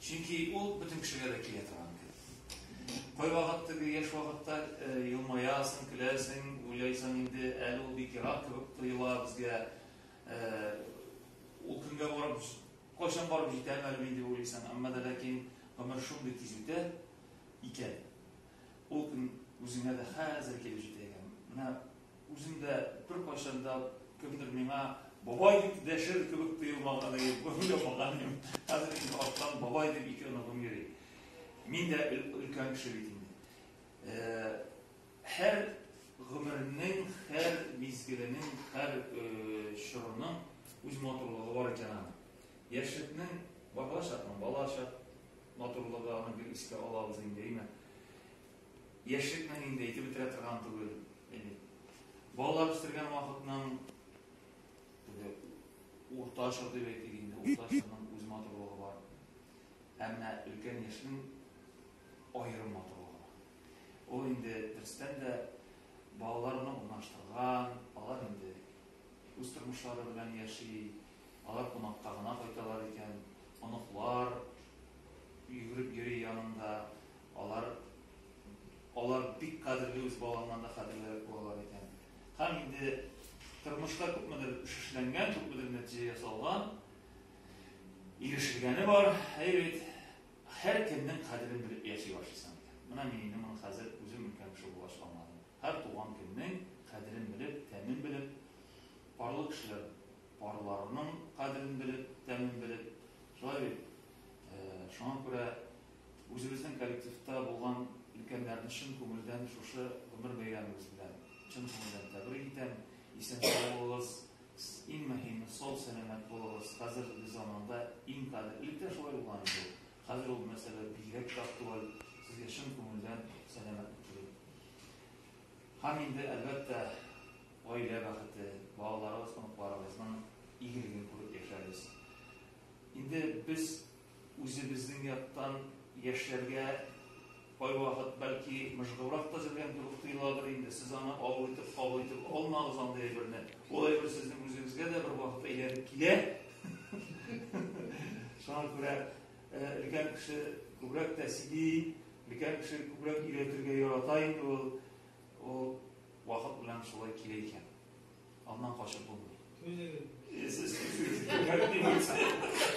Чөнки ул бөтен кешегә дә килә торган кебек. Кайвакыт теге яшь вакытта елмаясың, көләсең, уйлайсың инде, әле ул бик ерак кебек тоела безгә. Ул көнгә барып, кайчан барып җитәм әле мин дип уйлыйсың. Әмма дә ләкин гомер шундый тиз үтә икән. Ул көн үзеңә дә хәзер килеп җитә икән. Менә Үзем дә беркайчан да кемдер миңа бабай дип дәшер кебек тоелмаган иде, уйламаган идем. Хәзер инде арттан бабай дип ике оныгым йөри. Мин дә өлкән кеше бит инде. Һәр гомернең, һәр мизгеленең, һәр чорының үз матурлыгы бар икән аны. Яшьлекнең бала чакның, бала чак матурлыгы аны бер искә алабыз инде, әйме? Яшьлек мәнен инде әйтеп бетерә торган түгел. Әйе. Балалар үстергән вакытның теге урта чор дип әйтик инде, урта чорның үз матурлыгы бар. Әмма өлкән яшьнең аерым матурлыгы бар. Ул инде дөрестән дә балаларны урнаштырган, алар инде үз тормышлары белән яши, алар кунакка гына кайталар икән, оныклар йөгереп йөри янында, Алар алар бик кадерле үз балаңнан да кадерлерәк булалар икән. Һәм инде тормышта күпмедер шишләнгән, күпмедер нәтиҗә ясалган, ирешелгәне бар. Әйбит, һәр кемнең кадерен белеп яши башлыйсың икән. Менә мин инде моны хәзер үзем өлкән кеше булгач аңладым. Һәр туган көннең кадерен белеп, тәмен белеп, парлы кешеләр парларының кадерен белеп, тәмен белеп, шулай бит. Э, шуңа күрә Үзебезнең коллективта булган өлкәннәрне чын күңелдән шушы гомер бәйрәмегез белән чын күңелдән тәбрик итәм. Исән-сау булыгыз, иң мөһиме, сау-сәламәт булыгыз. Хәзерге заманда иң кадер, элек тә шулай булган иде ул. Хәзер ул мәсьәлә бигрәк тә актуаль. Сезгә чын күңелдән сәламәтлек телим. Һәм инде, әлбәттә, гаилә бәхете, балаларыгыз, оныкларыгызның игелеген күреп яшәгез. Инде без Үзебезнең яктан яшьләргә кайвакыт бәлки мыжгыбрак та зелгәндер дип тоеладыр инде, сез аны авыр итеп кабул итеп алмагыз андый әйберне, ул әйбер сезнең үзегезгә дә бер вакыт әйләнеп килә, шуңа күрә өлкән кеше күбрәк тә сөйли, өлкән кеше күбрәк өйрәтергә ярата инде ул, ул вакыт белән шулай килә икән, аннан качып булмый. Түзегез. Сез түзегез.